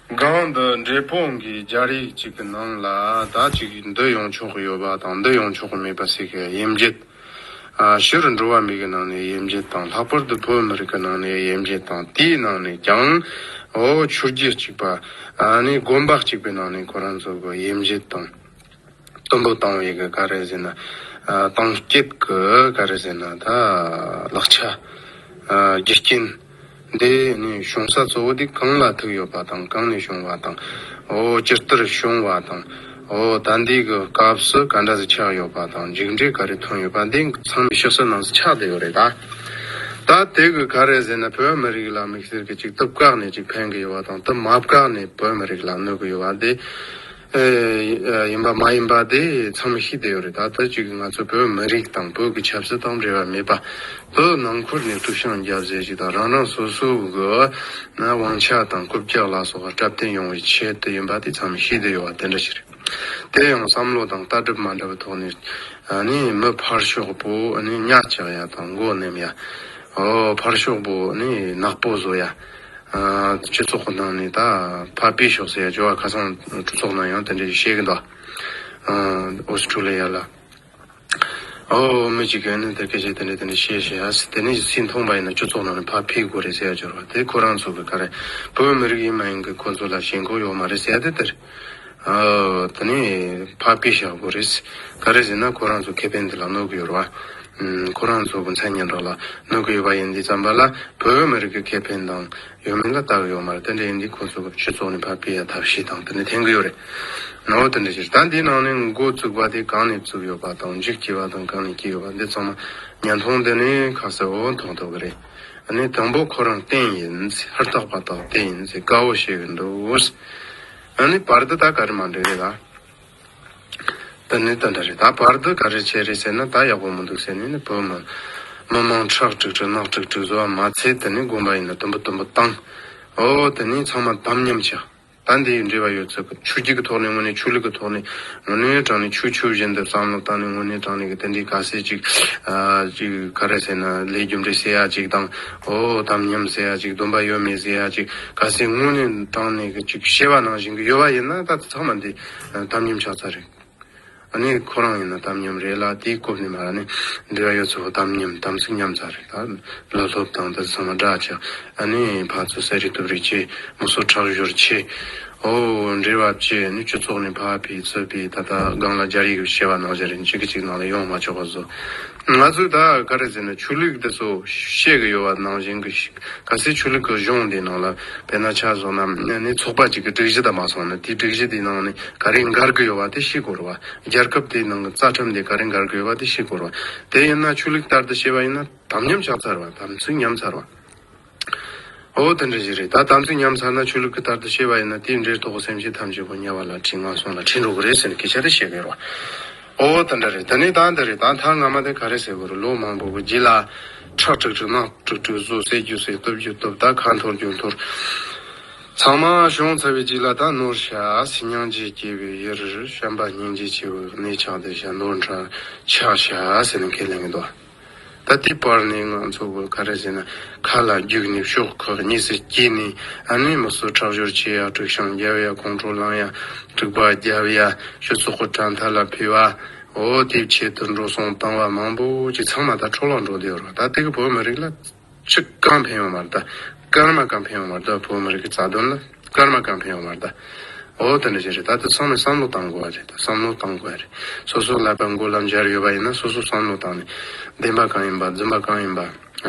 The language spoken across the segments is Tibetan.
སྒང་འདི་འབྲས་སྤུངས་ཀྱི་སྦྱར་ཡིག་གཅིག་གི་ནང་ལ་ད་ཅིག་འདི་ཡོང་ཆོག་གི་ཡོད་པ་དང་འདི་ཡོང་ཆོག་གི་མེད་པ་ཟེར་གི་དབྱིན་བརྒྱད། ཕྱི་རུ་འགྲོ་བ་མིག་གི་ནང་ནས་དབྱིན་བརྒྱད་དང་ལྷག་པར་དུ་བོད་མི་རིགས་ཀྱི་ནང་ནས་དབྱིན་བརྒྱད་དང་དེའི་ནང་ནས་ཀྱང་ཨོ་ཆུ་རྒྱུད་གཅིག་པ་ནི་དགོན་པ་གཅིག་པའི་ནང་ནས་ཁོ་རང་ཚོ་གི་དབྱིན་བརྒྱད་དང། བསྟོད་འབུལ་བཏང་བའི་ག་རེ་ཟེར་ན། བཏང་སྐྱེད་ཀྱི་ག་རེ་ཟེར་ན་ད། ལག་ཆ། རྒྱུ་རྐྱེན། འདི་ནི་བྱུང་ས་གཙོ་བོ་དེ་གང་ལ་ཐུག་ཡོད་པ་དང་གང་ནས་བྱུང་བ་དང། ཇི་ལྟར་བྱུང་བ་དང། ད་འདི་གི་སྐབས་སུ་ག་འདྲ་ཟིག་ཆགས་ཡོད་པ་དང་མཇུག་འབྲས་ག་རེ་ཐོན་ཡོད་པ་འདི་ཚང་མི་ཤོད་ས་ནང་ས་ཆགས་བསྡད་ཡོད་རེད་ད། ད་དེ་གི་ག་རེ་ཟེར་ན་བོད་མི་རིགས་ལ་མིག་སེར་གྱི་ཅིག་སྟབས་བཀག་ནས་ཅིག་འཕེན་གྱི་ཡོད་པ་དང་སྟབས་མ་བཀག་ནས་བོད་མི་རིགས་ལ་གནོད་ཀྱི་ཡོད་པ་འདི། ཡིན་པ་མ་ཡིན་པ་དེ་མཚམས་མི་ཤེས་དེ་ཡོད་རེད་ད་ལྟ་གཅིག་ང་ཚོ་བོད་མི་རིགས་དང་བོད་ཀྱི་ཆབ་སྲིད་དང་འབྲེལ་བ་མེད་པ་བོད་ནང་ཁུལ་ནས་དཀྲུག་ཤིང་རྒྱབ་ཟེར་གྱི་དང་རང་རང་སོ་སོའི་གི་དབང་ཆ་དང་རྐུབ་བཀྱག་ལ་སོགས་བཀྲབ་བསྟེན་ཡོང་བའི་ཆེད་དུ་ཡིན་པ་དེ་མཚམས་མི་ཤེས་དེ་ཡོད་བ་དེ་འདྲ་ཞིག་རེད་དེ་ཡང་བསམ་བློ་དང་ལྟ་གྲུབ་མ་འདྲ་བའི་ཐོག་ནས་ནི་མི་ཕར་ཞོག་པོ་ནི་གཉའ་བཅག་ཡ་དང་མགོ་ནེམ་ཡ་ཨོ་ཕར་ཞོག་པོ་ནི་ནག་པོ་བཟོ་ཡ། སྤྱི་ཚོགས་ཁོ་ནང་ནས་ད་བར་སྤེལ་ཞོག་ཟེར་ཡ་ཇོ་བ་ཁ་སང་གྲོས་ཚོགས་ནང་ཡང་དེ་འདྲ་ཞིག་བཤད་གི་འདུག་ཨོ་སི་ཁྲུ་ལི་ཡ་ལ་ཨོ་མི་གཅིག་གིས་ནི་དེ་སྐད་བཤད་དེ་འདྲ་དེ་འདྲ་བཤད་ཞེས་ཡ་སི་དེ་ནས་ཀྱི་སྲིད་མཐོང་པ་ཡིན་ན་སྤྱི་ཚོགས་ནང་ནས་ཕར་ཕེབས་དགོས་རེད་ཟེར་ཡ་ཇོ་ར་དེ་ཁོ་རང་ཚོ་གི་ག་རེ་བོད་མི་རིགས་ཡིན་མ་ཡིན་གི་ཁོ་ཚོ་ལ་ཞེན་ཁོག་ཡོག་མ་རེད་ཟེར་ཡ་དེ་དེར། དེ་ནས་ཕ་པི་ཞཱ་གོ་རེས། ག་རེ་ཟེར་ན་ཁོ་རང་ཚོ་ཁེ་ཕན་དེ་ལ་གནོད་ཀྱི་ཡོད་རེད་བ། ཁོ་རང་ཚོ་གོང་ཚད་ཉེན་རྟོག་ལ་གནོད་ཀྱི་ཡོད་པ་ཡིན་འདི་བརྩམས་པ་ལ་བོད་མི་རིགས་ཀྱི་ཁེ་ཕན་དང་ཡོད་མེད་ལ་བརྟག་ཡོད་མ་རེད་དེ་འདྲ་ཡིན་འདི་ཁོ་ཚོ་གི་སྤྱི་ཚོགས་ནས་ཕ་པི་ཡཱ་ཐབས་ཤེས་དང་དེ་འདྲ་འཐེན་གྱི་ཡོད་རེད། ནའོ་དེ་འདྲ་ཕྱིར་ད་འདི་ནང་ནས་འགོ་བཙུགས་པ་དེ་གང་ནས་བཙུགས་ཡོད་པ་དང་འཇིགས་སྐྱེ་བ་དང་གང་ནས་སྐྱེས་ཡོད་པ་འདི་ཚང་མ་ཉན་ཐོང་དེ་ནས་ཁ་གསལ་བོ་མཐོང་ཐུབ་གི་རེད། ནི་དང་པོ་ཁོ་རང་རྟེན་ཡིན། ཧུར་ཐག་པ་དག་དེ་ཡིན། དཀའ་བོ་བཤད་གི་འདུག། ནི་བར་དུ་ད་ག་རེ་མ་འདྲེས་རེད་ད། ད་ནི་ད་འདྲ་རེད་ད་བར་དུ་ག་རེ་བྱས་རེད་ཟེར་ན་ད་ཡག་པོ་མི་འདུག་ཟེར་ནས་ནི་བོད་མི། མི་དམངས་ཁྲག་དྲུག་དྲུག་རྣག་དྲུག་དྲུག་བཟོ་བ་མ་ཚད་ད་ནི་དགོངས་པ་ཡིན་ན་དུམ་བུ་དུམ་བུ་བཏང། འོ་ད་ནི་ཚང་མ་དམ་ཉམས་བྱ། ཟླ་འདིའི་འབྲེལ་བ་ཡོད་ཚད་ཀྱི་ཆུ་རྒྱུག་གི་ཐོག་ནས་དངོས་གནས་ཆུ་ལུད་ཀྱི་ཐོག་ནས་ངོ་གནོང་ཡོད་གྲང་ནས་ཆུ་ཆུ་བཞིན་དུ་བསམ་བློ་བཏང་ནས་དངོས་གནས་གྲང་ནས་ཀྱི་དེ་འདྲའི་ག་ཟེ་ཅིག་ག་རེ་ཟེར་ན་ལས་རྒྱུ་འབྲས་ཟེར་ཡག་ཅིག་དང་ཨོ་དམ་ཉམས་ཟེར་ཡག་ཅིག་སྡོམ་པ་ཡོད་མེད་ཟེར་ཡག་ཅིག་ག་ཟེ་དངོས་གནས་གྲང་ནས་ཀྱི་ཅིག་བཤད་པ་ནང་བཞིན་གྱི་ཡོད་པ་ཡིན་ན་ད་ཚང་མ་འདི་དམ་ཉམས་ཆགས་ཚར་རེད། ནི་ཁོ་རང་ཡིན་ན་དམ་ཉམས་རེད་ལ་དེའི་སྐོབ་ནས་མ་ར་ནི་འདི་ག་ཡོད་ཚོ་ཧོ་དམ་ཉམས་དམ་ཚིག་ཉམས་ཚར་རེད་ད་ལོ་སློབ་དང་ད་ཚང་མ་སྒྲ་ལྕག་ཨ་ནི་ཕར་ཚོ་ཟས་རིགས་དུབ་རིགས་ཀྱི་མུ་སོ་ཁྲག་ཞོར་ཆེ་ཨོ་འདྲེ་བབ་ཀྱི་ནི་ཁྱུ་ཚོགས་ནས་ཕ་བི་ཚོ་བི་ད་ད་སྒང་ལ་རྒྱ་རིགས་བྱེ་བ་ནང་བཞིན་རིན་ཅིག་གཅིག་ནང་ལ་ཡོང་མ་ཆོག་པ་བཟོ་ང་ཚོས་ད་ག་རེ་ཟེར་ན་ཆོས་ལུགས་དེ་ཚོ་བཤད་གི་ཡོད་བ་ནང་བཞིན་གྱི་ག་སའི་ཆོས་ལུགས་ཀྱི་གཞུང་དེའི་ནང་ལ་བལ་ན་ཆ་བཟོ་ན་ནི་ཚོགས་པ་གཅིག་གི་སྒྲིག་གཞི་དང་མ་སོང་ན་དེའི་སྒྲིག་གཞི་དེའི་ནང་ནས་ག་རེ་འགར་གྱི་ཡོད་བ་དེ་ཤེས་དགོས་རོ་བ་རྒྱལ་ཁབ་དེའི་ནང་གི་རྩ་ཁྲིམས་དེ་ག་རེ་འགར་གྱི་ཡོད་བ་དེ་ཤེས་དགོས་རོ་བ་དེ་ཡིན་ན་ཆོས་ལུགས་ལྟར་དུ་བཤད་བ་ཡིན་ན་དམ་ཉམས་ཆགས་ཚར་བ་དམ་ཚིག་ཉམས་ཚར་བ། ཨོ། དེ་འདྲ་ཞིག་རེད་ད་དམ་ཚིག་ཉམས་ཚར་ན་ཆོས་ལུགས་ཀྱི་ལྟར་དུ་ཤེས་པ་ཡིན་ན་དེའི་འབྲེལ་ཐོག་གི་སེམས་ཤེས་ཐམས་ཅད་པོ་དམྱལ་བ་ལ་ཁྲིད་ངང་སོང་ལ་ཁྲིད་འགྲོ་གི་རེད་ཟེར་ནས་སྐད་ཆ་རེ་བཤད་ཀྱི་ཡོད་རེད། ཨོ། དེ་འདྲ་རེད་ད་ནི་ད་འདི་རེད་ད་མཐར་ང་མ་དེ་ག་རེ་ཟེར་དགོས་རེད་ལོ་མང་པོ་པོ་བགྱིས་ལ། ཁྲག་དཀྲུགས་དཀྲུགས་རྣག་དཀྲུགས་དཀྲུགས་བཟོ་བསད་རྒྱུ་བསད་སྟོབས་རྒྱུ་སྟོབས་ད་ཁ་འཐོར་རྒྱུ་འཐོར། ཚང་མ་ཤོང་ཚར་བའི་རྗེས་ལ་ད་ནོར་ཤ་སི་སྙིང་རྗེ་སྐྱེས་པའི་དབྱེར་བཤམས་པ་སྙིང་རྗེ་ཆེ་བའི་གནས་ཆགས་བསྡད་ཤ་ནོར་འཁྲ་ཆགས་ཤ་ཟེར་ནས་ཁས་ལེན་གྱི་འདུག། ད་ལྟའི་བར་ནི་ང་ཚོ་བོད་ཁ་ར་ཟི་ན་ཁ་ལ་རྒྱུག་ནས་ཤོག་ཁག་གཉིས་སུ་གྱེས་ནས་ཨ་ནེ་མི་སུ་ཁྲག་སྦྱོར་བྱེད་ཡག་དྲུག་ཤང་རྒྱབ་ཡ་ཁོང་ཁྲོ་ལངས་ཡ་དྲུག་པ་རྒྱབ་ཡ་ཤོད་སོག་ཁོ་དྲ་མཐའ་ལ་ཕུལ་བ་འོ་དེབ་ཆེད་དུ་འགྲོ་སོང་བཏང་བ་མང་པོ་ཅིག་ཚང་མ་ད་ཁྲོ་ལག་འགྲོ་བསྡད་རོགས་ད་ལྟའི་བོད་མི་རིགས་ལ། ཕྱི་རྐང་འཕེན་ཡོང་བར་ད། སྐར་མ་རྐང་འཕེན་ཡོང་བར་ད་བོད་མི་རིགས་ཀྱི་རྩ་དོན་ལ་སྐར་མ་རྐང་འཕེན་ཡོང་བར་ད། འོ་དེ་འདྲ་ཞིག་རེད་ད་དེ་ཚང་མས་བསམ་བློ་བཏང་དགོས་བ་རེད་ད་བསམ་བློ་བཏང་དགོས་རེད། སོ་སོའི་ཀླད་པ་མགོ་ལ་འབྱར་ཡོད་པ་ཡིན་ན་སོ་སོ་བསམ་བློ་བཏང་ནས། བདེན་པ་གང་ཡིན་པ་རྫུན་པ་གང་ཡིན་པ།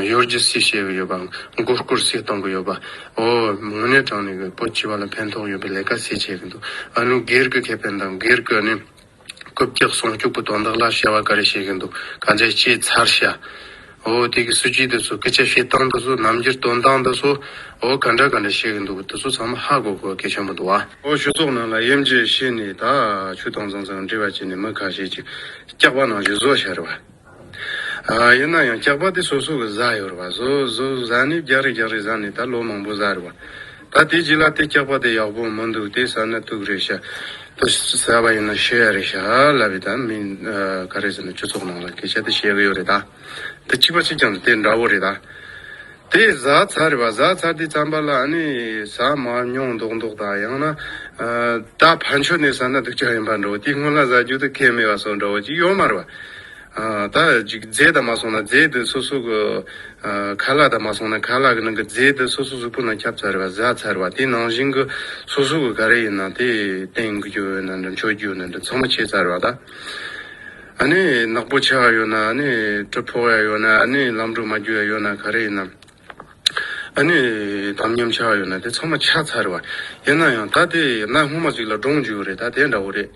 གཡོ་སྒྱུ་སུས་བྱེད་གི་ཡོད་པ་མགོ་སྐོར་སུས་གཏོང་གི་ཡོད་པ། འོ་དངོས་གནས་དྲང་ནས་བོད་སྤྱི་བ་ལ་ཕན་ཐོག་ཡོད་པའི་ལས་ཀ་སུས་བྱེད་གི་འདུག་ཨ་ནུ་སྒེར་གི་ཁེ་ཕན་དང་སྒེར་གི་ནི། རྐུབ་བཀྱག་ཟུང་སྐྱུག་པོ་དོན་དག་ལ་བྱ་བ་ག་རེ་བྱེད་གི་འདུག་ག་མཛད་ཅེས་མཚར་ཤ་འོ་དེ་གི་སུ་ཅི་འདི་ཚོ་སྐད་ཆ་བཤད་སྟངས་འདི་ཚོ་ནམ་འགྱུར་དོན་དག་འདི་ཚོ་འོ་ག་འདྲ་ག་འདྲ་བྱེད་གི་འདུག་འདི་ཚོ་ཚང་མ་ཧ་གོ་གོ་སྐད་ཆ་མི་འདུག་ཨ། འོ་ཆོས་ཚོགས་ནང་ལ་དབྱེ་འབྱེད་བྱས་ནས་ད་ཆུ་དང་རྫོང་ཚང་འབྲེལ་བ་བྱས་ནས་མི་ཁ་ཤས་ཀྱི་སྐྱག་པ་ནང་བཞིན་བཟོ་བྱ་རེད་བ། ཡིན་ན་ཡང་སྐྱག་པ་དེ་སོ་སོ་གི་བཟའ་ཡོད་རེད་བ། བཟོ་བཟོ་བཟའ་ནི་རྒྱག་རེ་རྒྱག་རེ་བཟའ་ནི་ད་ལོ་མང་པོ་བཟའ་རེད་བ། ད་དེ་རྗེས་ལ་དེ་སྐྱག་པ་དེ་ཡག་པོ་མི་འདུག་དེ་བཟའ་ན་དུག་རེད་ཤ་དུ་བཟའ་བ་ཡིན་ན་ཤི་ཡ་རེད་ཤ་ལ་བས་ད་མི་ག་རེ་ཟེར་ན་ཁྱུ་ཚོགས་ནང་ལ་སྐད་ཆ་དེ་བཤད་གི་ཡོད་རེད་ད། དེ་གཅིག་པ་གཅིག་ཀྱང་དེ་འདྲ་བོ་རེད་ད། དེ་བཟའ་ཚར་རེད་པ་བཟའ་ཚར་དུས་རྩམ་པ་ལ་ཨ་ནི་ཟ་མ་མྱོང་མདོག་མདོག་དང་ཡང་ན། ད་ཕར་མཆོད་གནས་ཟ་ན་སྡུག་ཅག་ཡིན་པ་འདྲ་བོ་དེ་སྔོན་ལ་ཟ་རྒྱུ་དུ་ཁས་མེད་པ་སོགས་འདྲ་བོ་ཅིག་ཡོད་མ་རེད་པ། ད་ཅིག་རྫས་དང་མ་སོང་ན་རྫས་དེ་སོ་སོ་གི། ཁ་ལག་དང་མ་སོང་ན་ཁ་ལག་གི་ནང་གི་རྫས་དེ་སོ་སོ་གཟུགས་པོ་ནང་ཁྱབ་ཚར་རེད་པ་བཟའ་ཚར་རེད་པ་དེ་ནང་བཞིན་གྱི་སོ་སོ་གི་ག་རེ་ཡིན་ན་དེ་བསྟེན་རྒྱུ་ཡོད་ན་འདྲ་མཆོད་རྒྱུ་ཡོད་ན་འདྲ་ཚང་མ་བྱས་ཚར་རེད་པ་ད། ཨ་ནི་ནག་པོ་ཆགས་ཡོད་ན་ཨ་ནི་གྲི་ཕོག་ཡ་ཡོད་ན་ཨ་ནི་ལམ་དུ་མ་རྒྱུ་ཡ་ཡོད་ན་ག་རེ་ཡིན་ནམ། ཨ་ནི་དམ་ཉམས་ཆགས་ཡོད་ན་དེ་ཚང་མ་ཆགས་ཚར་བ་ཡིན་ན་ཡང་ད་དེ་ནག་སྔོན་མ་ཅིག་ལ་འདྲོངས་རྒྱུ་རེད་ད་དེ་འདྲ་བོ་རེད།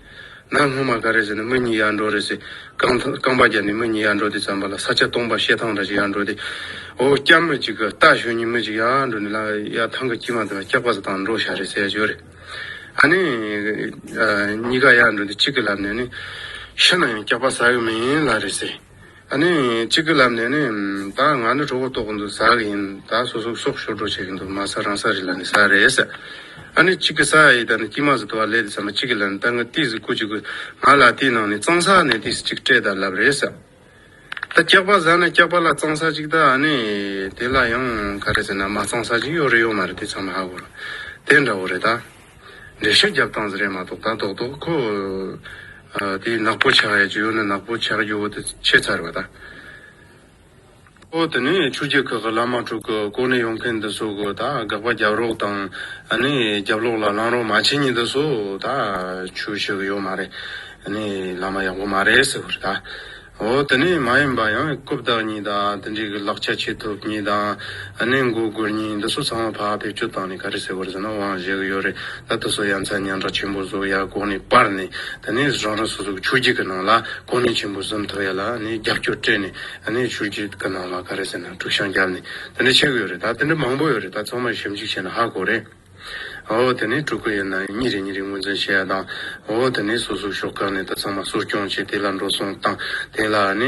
ནག་སྔོན་མ་ག་རེ་ཟེར་ནི་མི་གཉིས་ཡར་འགྲོ་རེད་ཟེར། རྐང་ཐང་རྐང་པ་བརྒྱབ་ནས་མི་གཉིས་ཡར་འགྲོ་དེ་ཙམ་པ་ལ་ས་ཆ་སྟོང་པ་ཤེལ་ཐང་འདྲ་ཞིག་ཡར་འགྲོ་དེ། འོ་སྐྱ་མི་ཅིག་གི་རྟ་ཞོན་གཉིས་མི་ཅིག་ཡར་འགྲོ་ནས་ལ་ཡར་ཐང་གི་དཀྱིལ་མ་དེ་ལ་སྐྱག་པ་ཟ་དང་འགྲོ་ཤ་རེ་ཟས་ཡ་ཞོ་རེད། ཨ་ནི། གཉིས་ཀ་ཡར་འགྲོ་དུས་གཅིག་གི་ལབ་ནས་ནི། ཤི་ན་ཡང་སྐྱག་པ་ཟ་གི་མིན་ལ་རེད་ཟེར། ཨ་ནི། གཅིག་གི་ལབ་ནས་ནི། ད་ང་ནི་གྲོགས་པོ་ལྟོགས་གི་འདུག་ཟ་གི་ཡིན། ད་སོ་སོ་སོགས་ཤོར་སྒྲོག་བྱེད་ཀྱི་འདུག་མ་ཟ་རང་ཟ་རེད་ལ་ནི་ཟ་རེད་ཟེར། ཨ་ནི། གཅིག་གི་ས་ཡི་ད་ནི་སྐྱིད་མ་ཟིག་དུ་བ་ལས་དེ་ཟ་མ་གཅིག་གི་ལ་ནི་ད་ངའི་ཏིས་ཟིག་ཁུ་གཅིག་གི་ང་ལ་དེའི་ནང་ནས་གཙང་ས་ནས་ཏིས་གཅིག་སྤྲད་ད་ལབ་རེད་ཟེར། ད་སྐྱག་པ་ཟ་ན་སྐྱག་པ་ལ་གཙང་ས་ཅིག་ད་ནི་དེ་ལ་ཡང་ག་རེ་ཟེར་ན་མ་གཙང་ས་ཅིག་ཡོད་རེད་ཡོད་མ་རེད་དེ་ཚང་མ་ཧ་གོ་རོགས་དེ་འདྲ་བོ་རེད་ད། འགྲེལ་བཤད་རྒྱབ་སྟངས་ཟེར་ཡ་མ་གཏོགས་ད་རྡོག་རྡོག་ཁོ་དེ་ནག་པོ་ཆགས་ཡ་ཇོ་ཡོ་ན་ནག་པོ་ཆགས་རྒྱུ་བོ་དེ་ཁྱད་མཚར་བ་ད། ཨོ་དེ་ནས་ཆུ་སྐྱེས་ཁག་གི་བླ་མ་དྲུག་གི་སྐོར་ནས་ཡོང་མཁན་འདི་ཚོ་གི་ད་དགག་པ་རྒྱབ་རོགས་དང་ནི་རྒྱབ་ལོག་ལ་ལང་རོགས་མ་བྱེད་ཉིན་འདི་ཚོ་ད་ཆུ་ཞིག་གི་ཡོད་མ་རེད་ནི་བླ་མ་ཡག་པོ་མ་རེད་ཟེར་བར་ད་ཨོ་དེ་ནས་མ་ཡིན་པ་ཡང་རྐུབ་བདག་གཉིས་དང་དེ་འདྲས་གི་ལག་ཆ་བྱེད་ཐུབ་གཉིས་དང་ནི་མགོ་སྒུར་གཉིས་འདི་ཚོ་ཚང་མ་ཕག་ཕེབས་ཅུ་བཏང་ནས་ག་རེ་ཟེར་བར་ཟེར་ན་དབང་བཞེས་གི་ཡོད་རེད་ད་དེ་ཚོ་ཡ་མཚན་སྙན་གྲགས་ཆེན་པོ་བཟོ་ཡ་གོང་ནས་སྤར་ནས་དེ་ནས་རང་རང་སོ་སོ་གི་ཆུ་སྐྱེས་གི་ནང་ལ་གོ་གནས་ཆེན་པོ་བཟུམ་ཐུབ་ཡ་ལ་ནི་རྒྱབ་སྐྱོར་སྤྲད་ནས། ད་ནས་ཆུ་སྐྱིད་ཀྱི་ནང་ལ་ག་རེ་ཟེར་ན་དཀྲུག་ཤང་རྒྱབ་ནས་དེ་འདྲ་བྱེད་གི་ཡོད་རེད་ད་དེ་འདྲ་མང་པོ་ཡོད་རེད་ད་ཚང་མར་ཞིབ་འཇུག་བྱས་ན་ཧ་གོ་རེད། འོ་དེ་ནས་དཀྲུག་གི་ཡོད་ན་གཉིས་རེ་གཉིས་རེ་ངོས་འཛིན་བྱེད་ཡ་དང་འོ་དེ་ནས་སོ་སོའི་ཕྱོགས་གང་ནས་ད་ཚང་མ་གསོ་སྐྱོང་བྱས་དེ་ལ་འགྲོ་སོང་དང་དེ་ལ་ནས་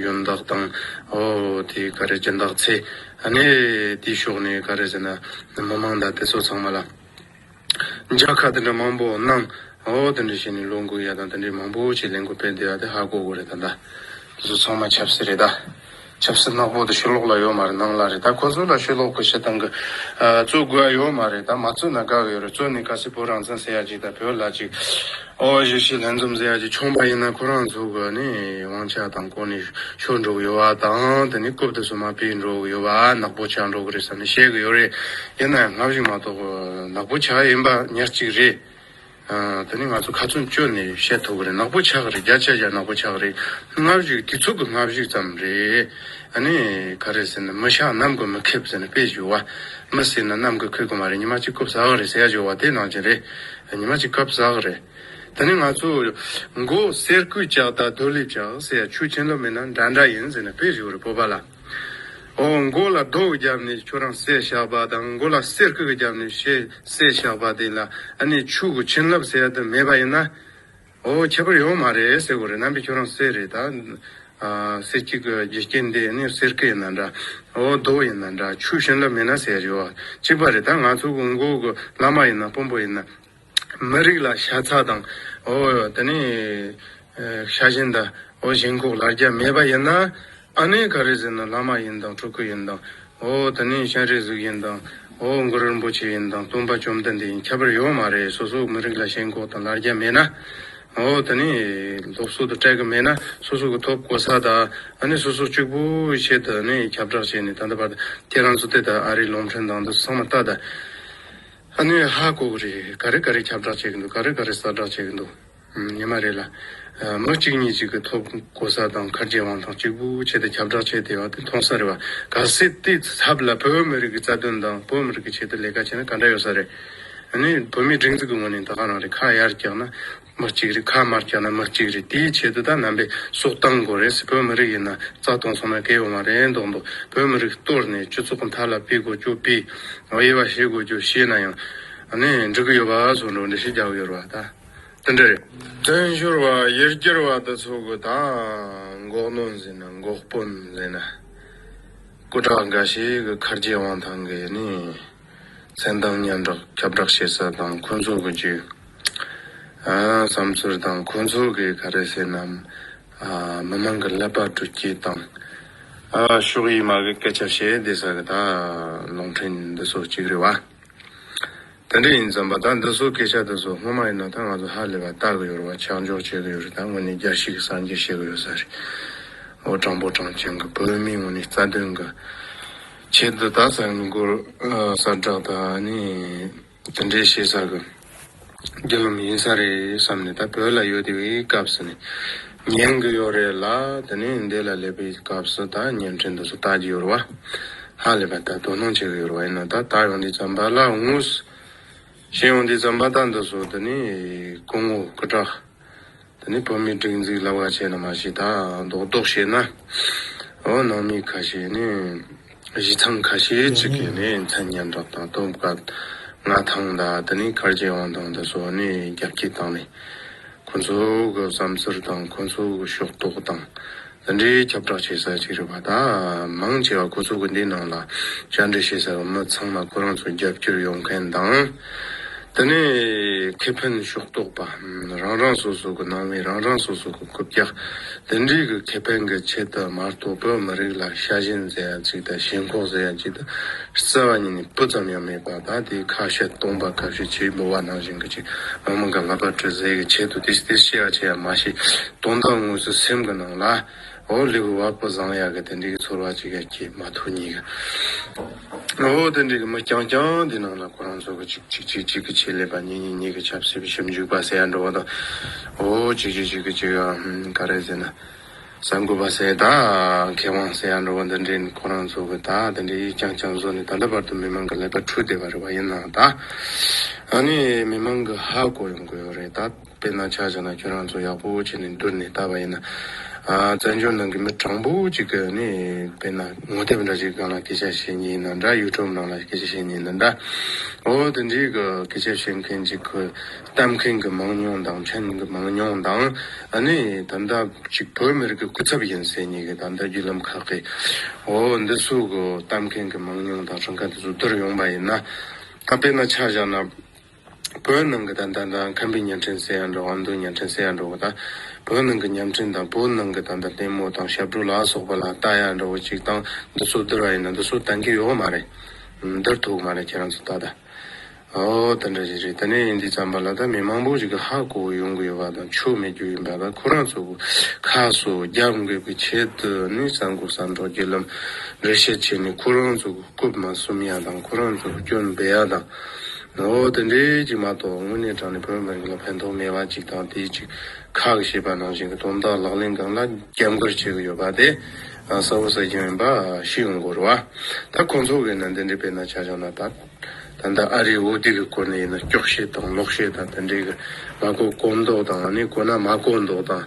ཡོན་བདག་དང་འོ་དེ་ག་རེ་སྦྱིན་བདག་ཚེ་ནས་དེའི་ཕྱོགས་ནས་ག་རེ་ཟེར་ན་མི་མང་དང་དེ་ཚོ་ཚང་མ་ལ། འཇགས་ཁ་དེ་འདྲ་མང་པོ་གནང། ཨོ་དེ་འདྲ་བྱས་ནས་ལོ་དགུ་ཡ་དང་དེ་འདྲས་མང་པོ་ཆེ་ལས་འགུལ་སྤེལ་བསྡད་ཡ་དེ་ཧ་གོ་གོ་རེད་ད། དེ་ཚོ་ཚང་མ་ཆབ་སྲིད་རེད་ད། ཆབ་སྲིད་ནག་པོ་དེ་ཤོ་ལོག་ལ་ཡོད་མ་རེད་ནང་ལ་རེད་ད་ཁོ་ཚོ་ལ་ཤོ་ལོག་གི་བྱེད་སྟངས་གི་རྩོད་དགོས་ཡ་ཡོད་མ་རེད་ད་མ་རྩོད་ན་དགའ་གི་ཡོད་རེད་རྩོད་ནས་ག་སེ་བོད་རང་བཙན་ཟེར་ཡ་ཅིག་ད་བོད་ལ་ཅིག། ཨོ་བྷ་བཞི་ཞེས་ལྷན་འཛོམས་ཟེར་ཡག་གྱི་ཆུང་བ་ཡིན་ན་ཁོ་རང་ཚོ་གི་ནི་དབང་ཆ་དང་གོ་གནས་ཤོར་འགྲོ་གི་ཡོད་པ་དང་དེ་ནི་རྐུབ་ཏུ་སོ་མ་སྤེལ་འགྲོ་གི་ཡོད་པ་ནག་པོ་ཆགས་འགྲོ་གི་རེད་བསམ་ནས་བཤད་གི་ཡོད་རེད་ཡིན་ན་ཡང་སྔ་བཞིན་མ་གཏོགས་ནག་པོ་ཆགས་ཡིན་པ་ཉག་གཅིག་རེད། དེ་ནི་ང་ཚོ་ཁ་ཚོན་གཅོད་ནས་བཤད་ཐུབ་གི་རེད་ནག་པོ་ཆགས་གི་རེད་རྒྱ་ཆད་རྒྱ་ནག་པོ་ཆགས་གི་རེད་སྔ་བཞུགས་དེ་ཚོ་གི་སྔ་བཞུགས་ཙམ་རེད་ནི་ག་རེད་ཟེར་ན་མི་ཤ་ནམ་གི་མི་ཁེབས་ཟེར་ན་དཔེ་བཞུགས་བ་མི་ཟེར་ན་ནམ་གི་ཁོད་གི་མ་རེད་ཉི་མ་གཅིག་རྐུབ་ཟ་གི་རེད་ཟེར་ཡག་བྱུང་བ་དེ་ནང་བཞིན་རེད། ཉི་མ་གཅིག་སྐབས་ཟག་རེད། དེ་ནས་ང་ཚོས། མགོ་གསེར་སྐུད་ལྕགས་རྟ་རྡོ་ལེབ་ལྕགས་ཟེར་ཡ་ཆུ་ཆེན་ལོ་མེད་ན་འདྲ་འདྲ་ཡིན་ཟེར་ནས་ཕེབས་བཞུགས་རེད་སྤོབས་པ་ལ། ཨོ་མགོ་ལ་རྡོ་གི་རྒྱབ་ནས་ཁྱོད་རང་གསེར་བཞག་པ་དང་མགོ་ལ་གསེར་སྐུད་ཀྱི་རྒྱབ་ནས་ཤེས་གསེར་བཞག་པ་དེ་ལ་ཨ་ནེ་ཆུ་གི་ཆེན་ལབ་ཟེར་ཡ་དེ་མེད་པ་ཡིན་ན། ཨོ་ཁྱད་པར་ཡོད་མ་རེད་ཟེར་གོ་རེད་རྣམ་པས་ཁྱོད་རང་གསེར་རེད་ད། གསེར་གཅིག་གི་རྒྱུ་རྐྱེན་དེ་ནི་གསེར་སྐེ་ཡིན་ན་འདྲ། ཨོ་རྡོ་ཡིན་ན་འདྲ་ཆུ་བྱིན་རླབས་མེད་ན་ཟེར་རེད་བ། གཅིག་པ་རེད་ད་ང་ཚོ་གི་མགོ་གི་བླ་མ་ཡིན་ན་དཔོན་པོ་ཡིན་ན། མི་རིགས་ལ་ཤ་ཚ་དང། ཨོ་ད་ནི། ཤ་བྱིན་ད། ཨོ་ཞེན་ཁོག་ལ་རྒྱ་མེད་པ་ཡིན་ན། ཨ་ནེ་ག་རེ་ཟེར་ན་བླ་མ་ཡིན་དང་ཕྲུ་གུ་ཡིན་དང། ཨོ་དེ་ནི་སྤྱན་རས་གཟིགས་ཡིན་དང། ཨོ་མགོ་རིན་པོ་ཆེ་ཡིན་དང་སྟོན་པ་བཅོམ་ལྡན་འདས་ཡིན་ཁྱད་པར་ཡོད་མ་རེད་སོ་སོའི་མི་རིགས་ལ་ཞེན་ཁོག་དང་ལར་རྒྱ་མེད་ན། ཨོ་དེ་ནི་སློབ་གསོ་དང་སྤྲད་གི་མེད་ན་སོ་སོ་གི་ཐོབ་གོ་ས་དང་ཨ་ནེ་སོ་སོ་གཅིག་པོའི་ཆེད་དུ་ནི་ཁྱབ་བསྒྲགས་བྱས་ནས་ད་ལྟ་བར་དུ་ཁྱེད་རང་ཚོ་དེ་ལྟར་ཨ་རིའི་ལོང་འཕྲིན་དང་འདི་ཚང་མ་ལྟ་དང། ཨ་ནེ་ཧ་གོ་གི་རེད་ག་རེ་ག་རེ་ཁྱབ་བསྒྲགས་བྱེད་གི་འདུག་ག་རེ་ག་རེ་གསར་བསྒྲགས་བྱེད་གི་འདུག། ཉི་མ་རེ་ལ། མི་གཅིག་གཉིས་གཅིག་གི་ཐོབ་གོ་ས་དང་མཁར་རྒྱལ་དབང་ཐང་གཅིག་པུ་བྱས་ཏེ་ཁྱབ་བསྒྲགས་བྱས་ཏེ་བ་དེ་མཐོང་ས་རེད་བ། ག་སྲིད་དེའི་ཚབ་ལ་བོད་མི་རིགས་ཀྱི་རྩ་དོན་དང་བོད་མི་རིགས་ཀྱི་ཆེད་དུ་ལས་ཀ་བྱས་ན་ག་འདྲ་ཡོད་ས་རེད། ཨ་ནི་བོད་མིའི་སྒྲིག་འཛུགས་ཀྱི་ངོས་ནས་ད་ག་རང་རེད་ཁ་ཡར་བཀྱག་ན་མི་གཅིག་རེད་ཁ་མར་བཀྱག་ན་མི་གཅིག་རེད་དེའི་ཆེད་དུ་ད་ནང་པའི་སྲོག་བཏང་དགོས་རེད་སི་བོད་མི་རིགས་ཡིན་ན་རྩ་སྟོང་སོང་ན་གལ་ཡོང་བ་རེད་མདོག་མདོག་བོད་མི་རིགས་གཏོར་ནས་སྤྱི་ཚོགས་མཐའ་ལ་སྤེལ་དགོས་རྒྱུ་སྤེལ། དབྱེ་བ་བྱེད་དགོས་རྒྱུ་བྱས་ན་ཡང། ཨ་ནི་འགྲིག་གི་ཡོད་བ་སོགས་འགྲོ་འདྲི་ཞིག་རྒྱག་གི་ཡོད་རེད་བ་ད། དེ་འདྲ་རེད། བཙན་བྱོལ་བ་ཡར་རྒྱས་བ་དེ་ཚོ་གི་ད་འགོག་ནོ་ཟེར་ན་འགོག་དཔོན་ཟེར་ན། སྐུ་དྲག་འགའ་ཞིག་གི་ཁར་རྗེ་དབང་ཐང་གིས་ནི། མཚན་དང་སྙན་གྲགས་ཁྱབ་བསྒྲགས་བྱེད་ས་དང་ཁོ་ཚོ་གི་རྒྱུ། བསམ་ཚུལ་དང་ཁོ་ཚོ་གིས་ག་རེ་ཟེར་ནམ། མི་མང་གི་ཀླད་པ་དཀྲུགས་སྐྱེད་དང། ཕྱོགས་ཡིས་མ་གི་སྐད་ཆ་བཤད་བསྡད་ས་གི་ད་ལོང་འཕྲིན་འདི་ཚོ་གཅིག་རེད་བ། དེ་འདྲ་ཡིན་བསམ་པ་དང་འདི་ཚོ་སྐད་ཆ་དེ་ཚོ་སྔོན་མ་ཡིན་ན་ད་ང་ཚོ་ཧ་ལས་པ་བལྟ་གི་ཡོད་རེད་བ་ཆགས་འཇོག་བྱེད་གི་ཡོད་རེད་ད་དངོས་གནས་རྒྱ་ཞིག་གི་སངས་རྒྱས་བཤད་གི་ཡོད་ས་རེད་འོ་དྲང་པོ་དྲང་བྱེད་གི་བོད་མིའི་ངོས་ནས་རྩ་དོན་གི་ཆེད་དུ་ད་གསར་འགོ་གསར་བསྒྲགས་དང་ཨ་ནི་དེ་འདྲའི་བྱེད་ས་གི་རྒྱུ་ལམ་ཡིན་ས་རེད་བསམ་ནས་ད་བོད་ལ་ཡོད་དེ་བའི་སྐབས་སུ་ནས་ཉན་གི་ཡོད་རེད་ལ་དེ་ནས་འདས་ལ་སླེབས་པའི་སྐབས་སུ་ད་བརྙན་འཕྲིན་དུ་སུ་ལྟ་གི་ཡོད་རེད་བ། ཧ་ལས་པ་ལྟར་དོ་སྣང་བྱེད་གི་ཡོད་རེད་བ་ཡིན་ན་ད་ལྟ་ཡོང་དུས་རྩམ་པ་ལ་དངུལ། ཞེས་ཡོང་དུས་རྩམ་པ་ལྟ་འདི་སོ་དེ་ནས་སྐུ་ངོ་སྐུ་དྲག། དེ་ནས་བོད་མི་སྒྲིག་འཛིག་ལབ་ག་བྱས་ན་མ་ཤེས་ད་རྡོག་རྡོག་བྱས་ན། འོ་ནང་མི་ཁ་ཤས་ནས། གཞི་ཚང་ཁ་ཤས་ཅིག་གིས་ནི་མཚན་སྙན་གྲགས་དང་སྟོབས་དཀའ། མངའ་ཐང་དང་དེ་ནི་གར་སྐྱེ་དབང་ཐང་དང་སོགས་ནི་རྒྱ་བསྐྱེད་བཏང་ནས། ཁོ་ཚོ་གི་བསམ་ཚུལ་དང་ཁོ་ཚོ་གི་ཤོག་རྟོག་དང། འདི་འདྲའི་ཁྱབ་བསྒྲགས་བྱེད་ས་ཅིག་རེད་པ་ད། མང་ཆེ་བ་ཁོ་ཚོ་གི་འདིའི་ནང་ལ་བཅར་འདྲི་བྱེད་ས་གི་མི་ཚང་མ་ཁོ་རང་ཚོ་རྒྱབ་སྐྱོར་ཡོང་མཁན་དང། དེ་ནས་ཁེ་ཕན་ཕྱོགས་གཏོགས་པ་རང་རང་སོ་སོ་གི་ནང་མི་རང་རང་སོ་སོ་གི་གུབ་རྒྱ་དེ་འདྲིས་གི་ཁེ་ཕན་གི་ཆེད་དུ་མ་གཏོགས་བོད་མི་རིགས་ལ་ཤ་ཞེན་ཟེར་ཡ་ཅིག་དང་ཞེན་ཁོག་ཟེར་ཡ་ཅིག་དང་བསལ་བ་ཉིད་ནས་སྤུ་ཙམ་ཡང་མེད་པ་ད་ལྟའི་ཁ་བཤད་སྟོང་པ་ཁ་བཤད་ཆེ་ལོ་བ་ནང་བཞིན་གྱི་ཅིག་མ་མི་འགའ་ལྷ་པ་དྲི་ཟའི་གི་ཆེད་དུ་དེ་ཞེས་དེ་ཞེས་ཡ་ཆེ་ཡ་མ་ཞེས་དོན་དག་དངོས་སུ་སེམས་གི་ནང་ལ། ཨོ་ལེགས་བ་ཕོ་བཟང་ཡག་གི་དེ་འདྲི་གི་ཚོར་བ་ཅིག་ཡ་ཁྱེད་མ་ཐུག་ཉིག་གི་ཨོ་དེ་འདྲི་གི་མི་རྐྱང་རྐྱང་དེ་ནང་ལ་ཁོ་རང་ཚོ་གི་ཅིག་ཅིག་ཅིག་ཅིག་གི་ཆེད་ལས་པ་ཉིག་ཉིག་ཉིག་གི་ཆབ་སྲིད་པའི་ཞིབ་འཇུག་པ་ཟེར་ཡ་འགྲོ་བ་དང་ཨོ་ཅིག་ཅིག་ཅིག་གི་ཅིག་ག་རེ་ཟེར་ན་གསར་འགོད་པ་ཟེར་ད་མཁས་དབང་ཟེར་ཡ་འགྲོ་བ་འདི་འདྲི་ནི་ཁོ་རང་ཚོ་གི་ད་དེ་འདྲི་ཡིག་རྐྱང་རྐྱང་བཟོ་ནི་ད་ལྟ་བར་དུ་མི་མང་གི་ལས་པ་འཁྲུག་བསྡད་པ་རེད་བ་ཡིན་ནང་ད་ཨ་ནི་མི་མང་གི་ཧ་གོ་ཡོང་གི་ཡོད་རེད་ད། དཔེར་ན་ཆ་བཞག་ན་ཁྱོད་རང་ཚོ་ཡག་པོ་བྱས་ནས་འདུར་ནས་ལྟ་བ་ཡིན་ན། བཙན་བྱོལ་ནང་གི་མི་དྲང་པོ་ཅིག་གི་ནས་དཔེར་ན་ངོ་དེབ་འདྲ་ཞིག་གང་ལ་སྐད་ཆ་བཤད་ཉེན་ཡིན་ན་འདྲ་ཡུ་ཀྲོབ་ནང་ལ་སྐད་ཆ་བཤད་ཉེན་ཡིན་ན་འདྲ། འོ་དེ་འདྲའི་གི་སྐད་ཆ་བཤད་མཁན་ཅིག་གི་གཏམ་མཁན་གི་མང་ཉུང་དང་མཁྱེན་མཁན་གི་མང་ཉུང་དང། ནས་ད་ལྟ་ཅིག་བོད་མི་རིགས་ཀྱི་སྐུ་ཚབ་ཡིན་ཟེར་ཉེ་གི་ད་ལྟ་བརྒྱུད་ལམ་ཁག་གི། འོ་འདི་སུ་གི་གཏམ་མཁན་གི་མང་ཉུང་དང་ཁྲིམས་ཁང་དེ་ཚོ་འདུར་ཡོང་པ་ཡིན་ན། དཔེར་ན་ཆ་བཞག་ན། བོད་ནང་གི་དང་བདག་དང་ཁམས་པའི་གཉའ་ཕྲེང་སེ་ཡ་འདྲ་བ་ཨ་མདོའི་གཉའ་ཕྲེང་སེ་ཡ་འདྲ་བོ་དང། བོད་ནང་གི་གཉའ་ཕྲེང་དང་བོད་ནང་གི་དང་བདག་ལྟད་མོ་དང་ཞབས་བྲོ་ལ་སོགས་པ་ལ་རྟ་ཡ་འདྲ་བོ་ཅིག་བཏང་འདི་ཚོ་བསྡུར་བ་ཡིན་ན་འདི་ཚོ་བདག་གི་ཡོད་མ་རེད། བསྡུར་ཐུབ་མ་རེད་ཁྱེད་རང་ཚོ་ད་ལྟ། ཨོ་དེ་འདྲ་ཞིག་རེད་དེ་ནས་འདི་བརྩམས་པ་ལ་ད་མི་མང་པོ་ཞིག་གི་ཧ་གོ་བོ་ཡོང་གི་ཡོད་པ་དང་ཆོ་མེད་རྒྱུ་ཡིན་པ་ལ་ཁོ་རང་ཚོ་གི་ཁ་སོ་རྒྱབ་འགེབས་ཀྱི་ཆེད་དུ་ནི་ས་འགོ་ས་འབྲོག་རྒྱུ་ལམ་རེ་བཤད་བྱས་ནས་ཁོ་རང་ཚོ་གི་རྐུབ་མ་སུམ་ཡ་དང་ཁོ་རང་ཚོ་གི་སྐྱོན་སྦེད་ཡ་དང། ཨོ། དེ་འདྲའི་གཅིག་མ་གཏོགས་དངོས་གནས་དྲང་ནས་བོད་མི་རིགས་ལ་ཕན་ཐོགས་མེད་པ་གཅིག་དང་དེའི་གཅིག་ཁག་ཞེས་པ་ནང་བཞིན་གྱི་དོན་དག་ལག་ལེན་སྒང་ལ་རྒྱབ་མགར་བྱེད་ཀྱི་ཡོད་པ་དེ་གསལ་བོ་གསལ་གྱི་མིན་པ་ཤི་ཡོང་དགོས་རུ་བ། ད་ཁོང་ཚོ་གིས་ནི་འདི་འདྲའི་དཔེར་ན་བྱ་བཞག་ནང་དང། ད་ལྟ་ཨ་རིའི་འོས་བསྡུ་གི་སྐོར་ནས་ཡིན་ན་སྐྱོག་བཤད་དང་ལོག་བཤད་དང་དེ་འདྲའི་གི་མ་གོ་གོ་མདོག་དང་ཨ་ནི་གོ་ན་མ་གོ་མདོག་དང།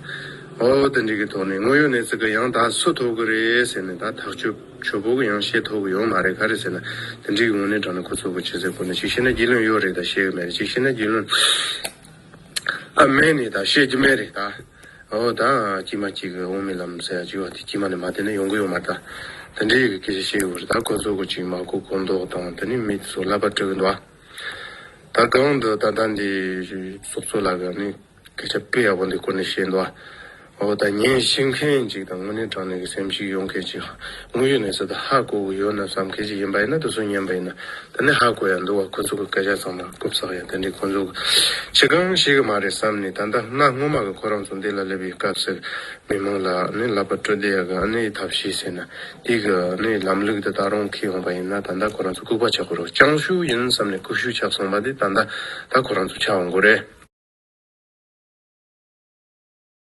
ཨོ། དེ་འདྲའི་གི་ཐོག་ནས་དངོས་ཡོད་ནས་ཙི་གི་ཡང་དག་སུ་ཐོབ་གི་རེད་ཟེར་ནས་ད་ཐག་གཅོད། ཆོས་འབོར་གྱི་ཡང་ཤེས་ཐོབ་ཀྱི་ཡོད་མ་རེད་ག་རེད་ཟེར་ན། དེ་འགྲིག་གི་ངོ་ནས་དྲང་ན་ཁོ་ཚོ་གོ་ཕྱེ་ཟེར་དགོས་ན་གཅིག་ཤེས་ན་རྒྱུས་ལོན་ཡོད་རེད་ད་ཤེས་ཀྱི་མེད་རེད་གཅིག་ཤེས་ན་རྒྱུས་ལོན་ཨ་མས་ནི་ད་ཤེས་ཀྱི་མེད་རེད་ད། འོ་ད། དཀྱིས་མ་གཅིག་གིས་འོང་མི་ལམ་ཟེར་ཡག་གཅིག་བ་དེ་དཀྱིས་མ་ནས་མ་བསྡད་ན་ཡོང་གི་ཡོད་མ་རེད་ད། དེ་འདྲིའི་ཡི་གེ་ཤིག་ཤེས་ཡོད་རེད་ད་ཁོ་ཚོ་གོ་གཅིག་མ་གོ་གོ་མདོག་དང་དེ་ནི་མིག་སོགས་ལབ་པར་སྤྲོད་ཀྱི་འདུག་ཨ། ད་གང་འདུག་ད་ལྟ་འདི། སོག་ཚོ་ལ་ག་ནི། སྐད་ཆ་དཔེ་ཡག་པོ་འདི་ཀུན་ནས་བཤད་འདུག་ཨ། འོ་ད་ངས་བཤད་མཁན་ཅིག་དང་དངོས་གནས་དྲང་གནས་ཀྱི་སེམས་ཤིག་ཡོང་མཁན་ཅིག་དངོས་ཡོད་གནས་ཚུལ་དང་ཧ་གོ་གི་ཡོད་ན་བསམ་མཁན་ཅིག་ཡིན་པ་ཡིན་ན་དུ་སུ་ཉན་པ་ཡིན་ན་ད་ནས་ཧ་གོ་ཡ་འདུག་བ་ཁོ་ཚོ་གི་སྐད་ཆ་ཚང་མ་རྐུབ་ཚག་ཡ་དེ་འདྲའི་ཁོ་ཚོ་ཁྱི་གང་ཞིག་གི་མ་རེད་བསམ་ནས་ད་ལྟ་སྔ་སྔོན་མ་གི་ཁོ་རང་ཚོ་འདི་ལ་སླེབས་ཡི་སྐབས་སེར་མི་མང་ལ་ནི་ལབ་པ་སྤྲོད་བདེ་ཡ་གི་ཨ་ནེ་ཡི་ཐབས་ཤེས་ཟེར་ན་དེ་གི་ནི་ལམ་ལུགས་དེ་ད་རུང་ཁེལ་ཡོང་པ་ཡིན་ན་ད་ལྟ་ཁོ་རང་ཚོ་ལྐུག་པ་ཆགས་དགོས་རོགས་ཅང་ཞུ་ཡིན་བསམ་ནས་ལྐུག་ཤུ་ཆགས་སོང་པ་དེ་ད་ལྟ་ད་ཁོ་རང་ཚོ་ཆགས་འོང་དགོས་རེད།